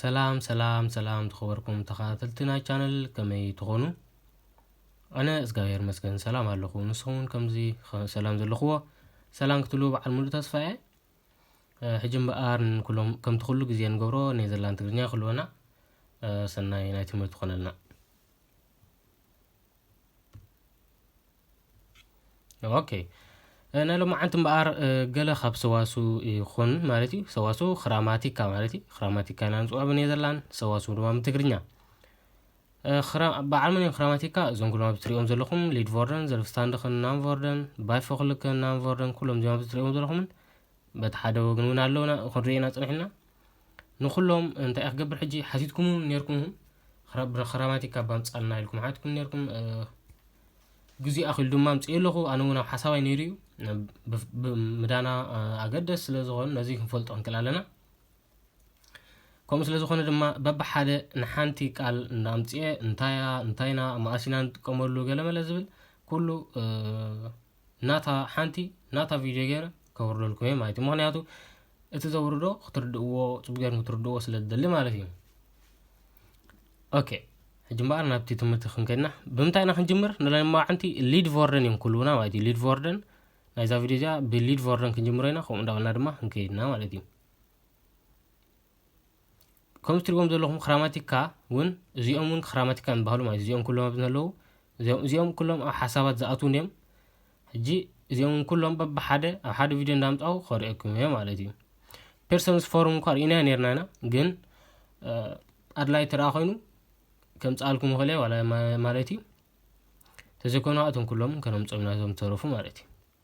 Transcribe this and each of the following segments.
ሰላም ሰላም ሰላም ዝኸበርኩም ተኸታተልቲ ናይ ቻነል ከመይ ትኾኑ ኣነ እግዚኣብሔር መስገን ሰላም ኣለኹ ንስኹም እውን ከምዚ ሰላም ዘለኽዎ ሰላም ክትብሉ በዓል ሙሉእ ተስፋ እየ ሕጂ እምበኣር ንኩሎም ከምቲ ኩሉ ግዜ ንገብሮ ናይ ዘላን ትግርኛ ክህልወና ሰናይ ናይ ትምህርቲ ኮነልና ኦኬ ናይ ሎማዓንቲ እምበኣር ገለ ካብ ሰዋሱ ይኹን ማለት እዩ ሰዋሱ ክራማቲካ ማለት እዩ ክራማቲካ ኢና ንፅውዖ ብኔዘርላንድ ሰዋሱ ድማ ብትግርኛ በዓል መን እዮም ክራማቲካ እዞም ኩሎም ኣብዚ ትሪኦም ዘለኹም ሊድቮርደን ዘልፍስታንድኽን ናንቮርደን ባይፎክልክን ናንቮርደን ኩሎም እዚኦም ኣብዚ ትሪኦም ዘለኹምን በቲ ሓደ ወገን እውን ኣለውና ክንርኢ ኢና ፅኒሕና ንኩሎም እንታይ እየ ክገብር ሕጂ ሓቲትኩም ነርኩም ክራማቲካ ባምፃልና ኢልኩም ሓትኩም ነርኩም ግዜ ኣኽሉ ድማ ምፅእ ኣለኹ ኣነ እውን ኣብ ሓሳባይ ነይሩ እዩ ምዳና ኣገደስ ስለ ዝኾኑ ነዚ ክንፈልጦ ክንክእል ኣለና ከምኡ ስለ ዝኾነ ድማ በብሓደ ንሓንቲ ቃል እናምፅኤ እንታያ እንታይና መኣሲና ንጥቀመሉ ገለመለ ዝብል ኩሉ ናታ ሓንቲ ናታ ቪድዮ ገይረ ከውርደልኩም እየ ማለት እዩ ምክንያቱ እቲ ዘውርዶ ክትርድእዎ ፅቡቅ ገይርኩም ክትርድእዎ ስለ ዝደሊ ማለት እዩ ኦኬ ሕጂ እምበኣር ናብቲ ትምህርቲ ክንከድና ብምንታይ ኢና ክንጅምር ንለማዕንቲ ሊድ ቮርደን እዮም ክህልውና ማለት እዩ ሊድ ቮርደን ናይዛ ቪድዮ እዚኣ ብሊድ ቮርደን ክንጅምሮ ኢና ከምኡ እንዳበልና ድማ ክንከይድና ማለት እዩ ከምዚ ትሪእዎም ዘለኹም ክራማቲካ እውን እዚኦም እውን ክራማቲካ ይበሃሉ ማለት እዚኦም ኩሎም ኣብዚ ዘለዉ እዚኦም ኩሎም ኣብ ሓሳባት ዝኣትውን እዮም ሕጂ እዚኦም ኩሎም በብሓደ ኣብ ሓደ ቪድዮ እንዳምፃው ከርእየኩም እየ ማለት እዩ ፔርሰንስ ፎርም እኳ ርኢና ነርና ኢና ግን ኣድላይ ትረኣ ኮይኑ ከምፅኣልኩም ይኽእል እየ ማለት እዩ ተዘይኮይኑ እቶም ኩሎም ከነምፆም ኢና እዞም ተረፉ ማለት እዩ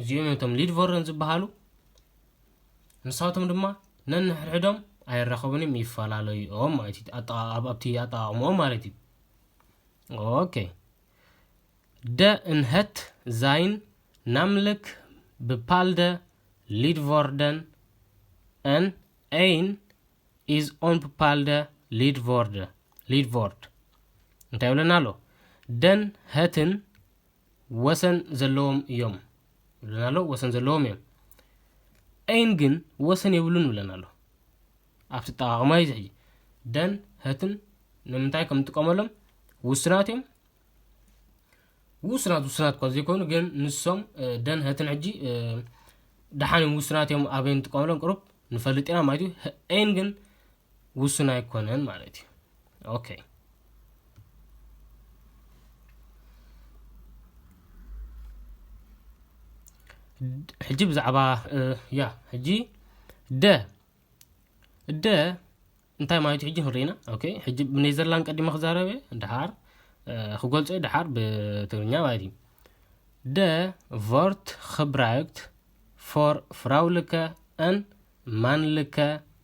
እዚኦም እዮም እቶም ሊድ ቮረን ዝበሃሉ። ንሳቶም ድማ ነንሕድሕዶም ኣይራኸቡን እዮም ይፈላለዩ እዮም ማለት እዩ ኣብቲ ኣጠቃቅምኦም ማለት እዩ ኦኬ ደ እንሀት ዛይን ናምልክ ብፓልደ ሊድቮርደን ን ኤይን ኢዝ ኦን ብፓልደ ሊድቮርድ እንታይ ይብለና ኣሎ ደን ሀትን ወሰን ዘለዎም እዮም ይብለና ኣሎ ወሰን ዘለዎም እዮም ኤን ግን ወሰን የብሉን ይብለና ኣሎ ኣብቲ ጠቃቅማ እዩ ዝሕጂ ደን ህትን ንምንታይ ከም ንጥቀመሎም ውስናት እዮም ውስናት ውስናት እኳ ዘይኮኑ ግን ንሶም ደን ህትን ሕጂ ደሓን እዮም ውስናት እዮም ኣበይ ንጥቀመሎም ቅሩብ ንፈልጥ ኢና ማለት እዩ ኤን ግን ውሱን ኣይኮነን ማለት እዩ ኦኬ ሕጂ ብዛዕባ ያ ሕጂ ደ ደ እንታይ ማለት እዩ ሕጂ ክንሪኢና ኦኬ ሕጂ ብኔዘርላንድ ቀዲመ ክዛረበ ድሓር ክገልጾ እዩ ድሓር ብትግርኛ ማለት እዩ ደ ቮርት ክብራይክት ፎር ፍራውልከ ን ማንልከ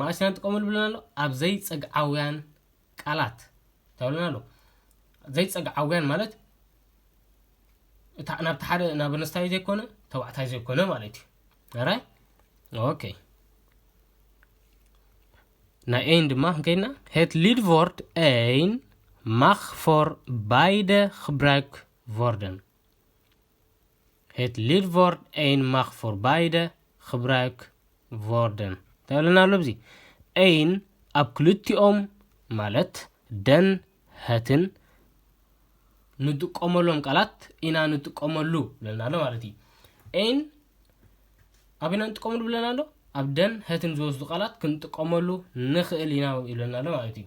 መኣስ ኢና ንጥቀመሉ ብለና ኣሎ ኣብ ዘይጸግዓውያን ቃላት እንታይ ብለና ኣሎ ዘይጸግዓውያን ማለት እታ ናብቲ ሓደ ናብ ኣነስታይ ዘይኮነ ተባዕታይ ዘይኮነ ማለት እዩ ራይ ኦኬ ናይ ኤን ድማ ክንከይድና ሄት ሊድቮርድ ኤን ማኽ ፎር ባይደ ክብራክ ቮርደን ሄት ሊድቮርድ ኤን ማኽ ፎር ባይደ ኽብራይክ ቮርደን እንታይ ብለና ኣሎ ብዚ ኤን ኣብ ክልቲኦም ማለት ደን ሀትን ንጥቀመሎም ቃላት ኢና ንጥቀመሉ ብለና ኣሎ ማለት እዩ ኤን ኣብ ኢና ንጥቀመሉ ብለና ኣሎ ኣብ ደን ሀትን ዝወስዱ ቃላት ክንጥቀመሉ ንኽእል ኢና ይብለና ኣሎ ማለት እዩ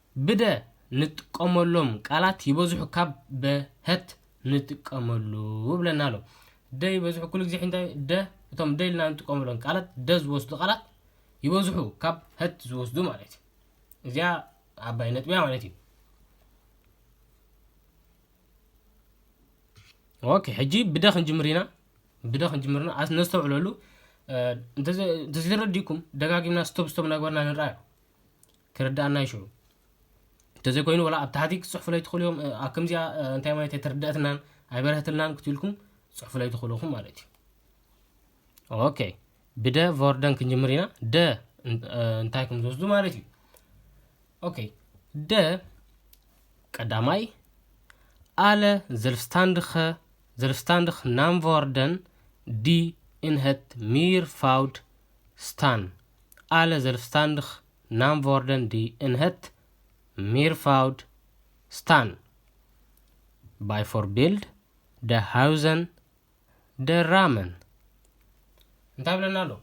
ብደ ንጥቀመሎም ቃላት ይበዝሑ ካብ በ ሀት ንጥቀመሉ ብለና ኣሎ። ደ ይበዝሑ ኩሉ ግዜ እንታይ ደ እቶም ደ ኢልና ንጥቀመሎም ቃላት ደ ዝወስዱ ቃላት ይበዝሑ ካብ ሀት ዝወስዱ ማለት እዩ። እዚኣ ዓባይ ነጥቢያ ማለት እዩ። ኦኬ ሕጂ ብደ ክንጅምር ኢና ብደ ክንጅምር ኢና ነስተውዕለሉ እንተዘይተረዲኩም ደጋጊምና ስቶብ ስቶብ ናግበርና ንርኣዮ ክርድኣና እዩ ሽዑ እንተዘይኮይኑ ወላ ኣብ ታሕቲ ክትፅሕፉለይ ትኽእሉ እዮም ኣብ ከምዚኣ እንታይ ማለት ኣይተርድኣትናን ኣይበረህትልናን ክትብልኩም ፅሕፉለይ ትኽእሉ ኢኹም ማለት እዩ ኦኬ ብደ ቮርደን ክንጅምር ኢና ደ እንታይ ከም ዝወስዱ ማለት እዩ ኦኬ ደ ቀዳማይ ኣለ ዘልፍስታንድኸ ዘልፍስታንድኽ ናምቮርደን ዲ ኢንሀት ሚር ፋውድ ስታን ኣለ ዘልፍስታንድኽ ናምቮርደን ዲ እንሀት ሚርፋውድ ስታን ባይፎርቢልድ ደ ሃውዘን ደ ራመን እንታይ ብለና ኣሎ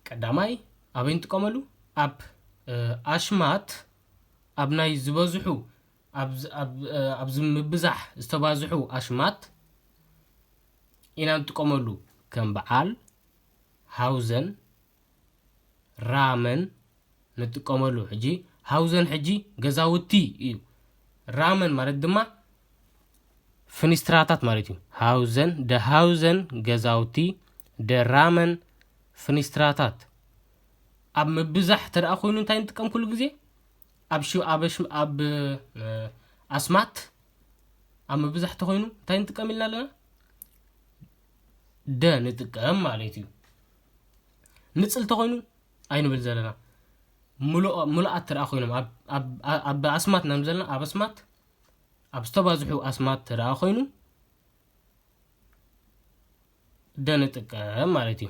ቀዳማይ ኣበይ ንጥቀመሉ ኣብ ኣሽማት ኣብ ናይ ዝበዝሑ ኣብዚ ምብዛሕ ዝተባዝሑ ኣሽማት ኢና ንጥቀመሉ ከም በዓል ሃውዘን ራመን ንጥቀመሉ ሕጂ ሃውዘን ሕጂ ገዛውቲ እዩ ራመን ማለት ድማ ፍኒስትራታት ማለት እዩ ሃውዘን ደ ሃውዘን ገዛውቲ ደ ራመን ፍኒስትራታት ኣብ ምብዛሕ ተደኣ ኮይኑ እንታይ ንጥቀም ኩሉ ግዜ ኣብ ኣብ ኣስማት ኣብ ምብዛሕ ተኮይኑ እንታይ ንጥቀም ኢልና ኣለና ደ ንጥቀም ማለት እዩ ንፅል ተኮይኑ ኣይንብል ዘለና ምሉኣት ትርኣ ኮይኖም ኣብ ኣስማት ናብ ዘለና ኣብ ኣስማት ኣብ ዝተባዝሑ ኣስማት ትርኣ ኮይኑ ደ ንጥቀም ማለት እዩ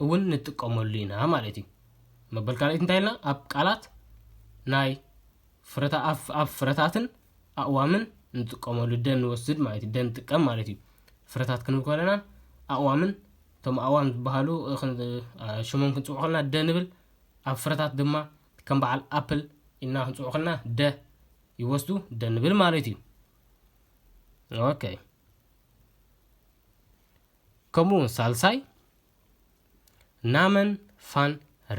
እውን ንጥቀመሉ ኢና ማለት እዩ። መበል ካልኣይቲ እንታይ ኢልና ኣብ ቃላት ናይ ፍረታ ኣብ ኣብ ፍረታትን ኣእዋምን ንጥቀመሉ ደን ንወስድ ማለት እዩ። ደን ንጥቀም ማለት እዩ። ፍረታት ክንብል ከለና ኣእዋምን እቶም ኣእዋም ዝበሃሉ እ፣ ክን- እ፣ ሽሞም ክንፅውዑ ከለና ደ ንብል። ኣብ ፍረታት ድማ ከም በዓል ኣፕል ኢልና ክንፅውዑ ከለና ደ ይወስዱ ደ ንብል ማለት እዩ። ኦኬ ከምኡ'ውን ሳልሳይ ናመን ፋን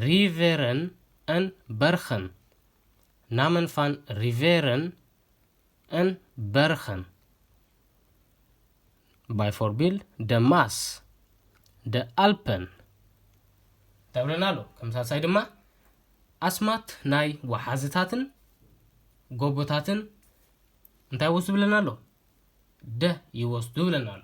ሪቨረን ን በርኸን፣ Namen van Riveren en Bergen፣ ባይፎርቢል ደ ማስ ደ ኣልፐን ተብለና ኣሎ። ከም ሳልሳይ ድማ ኣስማት ናይ ወሓዝታትን ጎቦታትን እንታይ ወስዱ ብለና ኣሎ ደ ይወስዱ ብለና ኣሎ።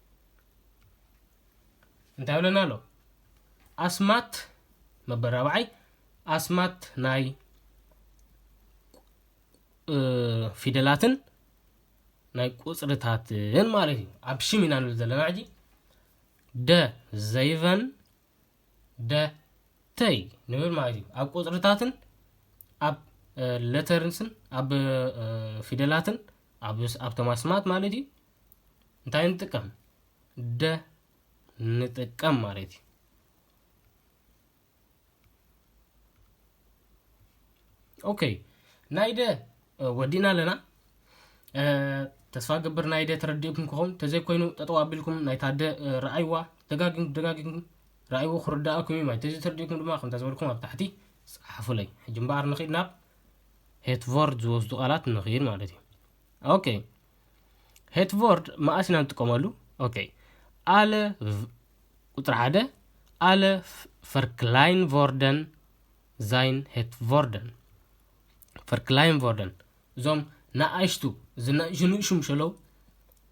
እንታይ ይብለና ኣሎ ኣስማት መበል ራብዓይ ኣስማት ናይ ፊደላትን ናይ ቁፅርታትን ማለት እዩ ኣብ ሽም ኢና ንብል ዘለና ሕጂ ደ ዘይቨን ደ ተይ ንብል ማለት እዩ ኣብ ቁፅርታትን ኣብ ለተርንስን ኣብ ፊደላትን ኣብ ተማስማት ማለት እዩ እንታይ ንጥቀም ደ ንጥቀም ማለት እዩ ኦኬ ናይ ደ ወዲእና ኣለና ተስፋ ገብር ናይ ደ ተረዲእኩም ክኸውን ተዘይኮይኑ ጠጠው ኣቢልኩም ናይታ ደ ረኣይዋ ደጋጊም ደጋጊም ረኣይዎ ክርዳእኩም እዩ ማለት ተዘይተረዲእኩም ድማ ከምታ ዝበልኩም ኣብ ታሕቲ ፀሓፉለይ ሕጂ እምበኣር ንኽድ ናብ ሄትቮርድ ዝወስዱ ቃላት ንኽድ ማለት እዩ ኦኬ ሄትቮርድ መኣስ ኢና ንጥቀመሉ ኦኬ ኣለ ቁፅሪ ሓደ ኣለ ፈርክላይን ቮርደን ዛይን ሄትቮርደን ፈርክላይን ቮርደን እዞም ንኣሽቱ ዝንእሹ ንእሹ ምሸለው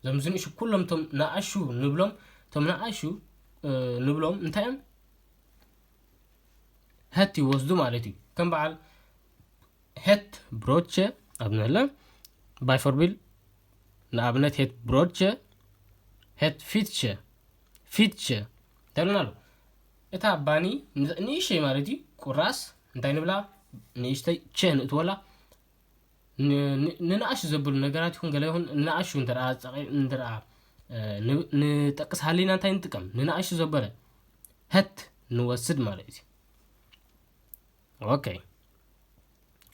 እዞም ዝንእሹ ኩሎም እቶም ንኣሹ ንብሎም እቶም ንኣሹ ንብሎም እንታይ እዮም ሀት ይወስዱ ማለት እዩ ከም በዓል ሄት ብሮቼ ኣብ ንዕለ ባይፎርቢል ንኣብነት ሄት ብሮቼ ሄት ፊትቼ ፊትቼ ተብለና ኣሎ እታ ባኒ ንእሽተይ ማለት እዩ ቁራስ እንታይ ንብላ ንእሽተይ ቸ ንእትወላ ንንኣሹ ዘብሉ ነገራት ይኹን ገለ ይኹን ንኣሹ እንተ ንጠቅስ ሃሊና እንታይ ንጥቀም ንንኣሹ ዘበለ ሀት ንወስድ ማለት እዩ ኦከይ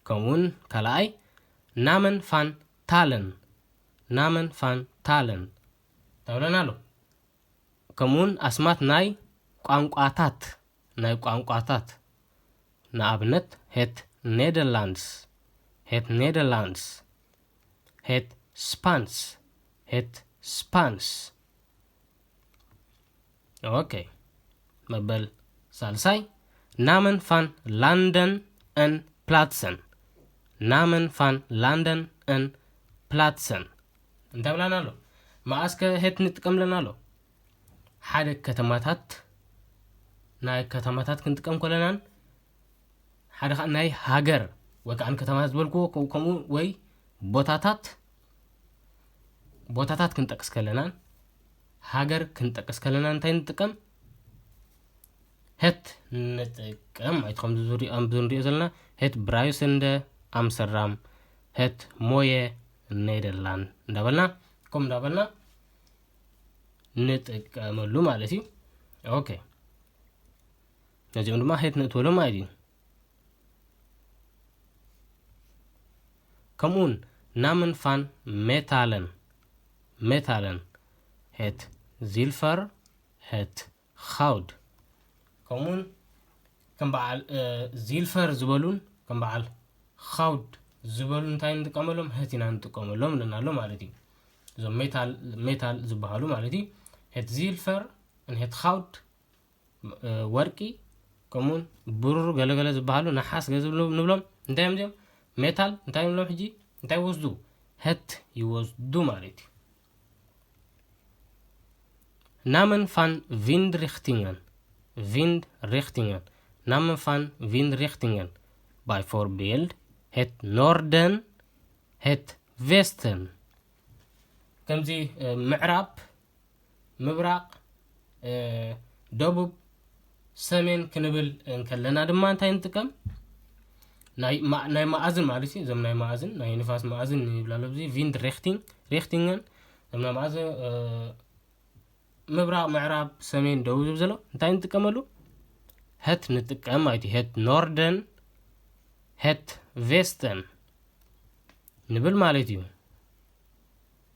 ከምኡውን ካልኣይ ናመን ፋን ታለን ናመን ፋን ታለን ተብለና ኣሎ ከምኡውን ኣስማት ናይ ቋንቋታት ናይ ቋንቋታት ንኣብነት ሄት ኔደርላንድስ ሄት ኔደርላንድስ ሄት ስፓንስ ሄት ስፓንስ ኦኬ መበል ሳልሳይ ናመን ፋን ላንደን ን ፕላትሰን ናመን ፋን ላንደን ን ፕላትሰን እንታይ ብላና ኣሎ መኣስከ ሄት ንጥቀምለና ኣሎ ሓደ ከተማታት ናይ ከተማታት ክንጥቀም ኮለናን ሓደ ከዓ ናይ ሃገር ወይ ከዓ ከተማታት ዝበልክዎ ከምኡ ወይ ቦታታት ቦታታት ክንጠቅስ ከለናን ሃገር ክንጠቅስ ከለና እንታይ ንጥቀም ሄት ንጥቀም ማለት ከምዚ ዝሪኦም ዝንሪኦ ዘለና ሄት ብራዩስንደ ኣምሰራም ሄት ሞየ ኔደርላንድ እንዳበልና ከምኡ እንዳበልና ንጥቀመሉ ማለት እዩ ኦኬ ነዚኦም ድማ ሄት ንእትበሉ ማለት እዩ ከምኡውን ናምንፋን ሜታለን ሜታለን ሄት ዚልፈር ሄት ኻውድ ከምኡውን ከም በዓል ዚልፈር ዝበሉን ከም በዓል ኻውድ ዝበሉ እንታይ ንጥቀመሎም ሄት ኢና ንጥቀመሎም ኣለና ኣሎ ማለት እዩ እዞም ሜታል ዝበሃሉ ማለት እዩ ሄት ዚልፈር ን ሄት ኻውድ ወርቂ ከምኡውን ብሩር ገለገለ ዝበሃሉ ነሓስ ገ ንብሎም እንታይ እዮም እዚኦም ሜታል እንታይ ይብሎም ሕጂ እንታይ ይወስዱ ህት ይወስዱ ማለት እዩ ናመን ፋን ቪንድ ሪክቲንገን ቪንድ ሪክቲንገን ናመን ፋን ቪንድ ሪክቲንገን ባይ ፎር ቢልድ ሄት ኖርደን ሄት ቬስተን ከምዚ ምዕራብ ምብራቕ፣ ደቡብ፣ ሰሜን ክንብል እንከለና ድማ እንታይ ንጥቀም ናይ ናይ መኣዝን ማለት እዩ እዞም ናይ መኣዝን ናይ ንፋስ መኣዝን ይብላ ኣሎ እዚ ቪንድ ሬክቲንግ ሬክቲንግን እዞም ናይ መኣዝን ምብራቕ ምዕራብ ሰሜን ደቡብ ዝብ ዘሎ እንታይ ንጥቀመሉ ሄት ንጥቀም ማለት እዩ ሄት ኖርደን ሄት ቬስተን ንብል ማለት እዩ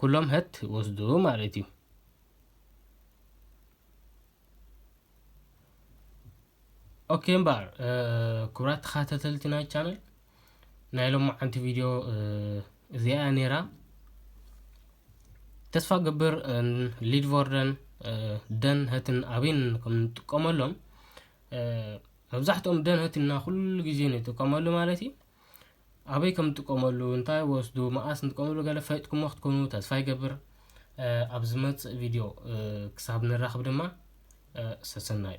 ኩሎም ህት ወስዱ ማለት እዩ ኦኬ እምበር ክብራት ተኸታተልቲ ናይ ቻነል ናይ ሎሚ ዓንቲ ቪድዮ እዚኣ ነይራ ተስፋ ግብር ሊድቮርደን ደን ህትን ኣበይን ከም እንጥቀመሎም መብዛሕትኦም ደን ህትና ኩሉ ግዜ ንጥቀመሉ ማለት እዩ ኣበይ ከምንጥቀመሉ እንታይ ወስዱ መኣስ ንጥቀመሉ ገለ ፈጥኩሞ ክትኮኑ ተስፋ ይገብር ኣብ ዝመፅእ ቪድዮ ክሳብ ንራኽብ ድማ ሰሰናዩ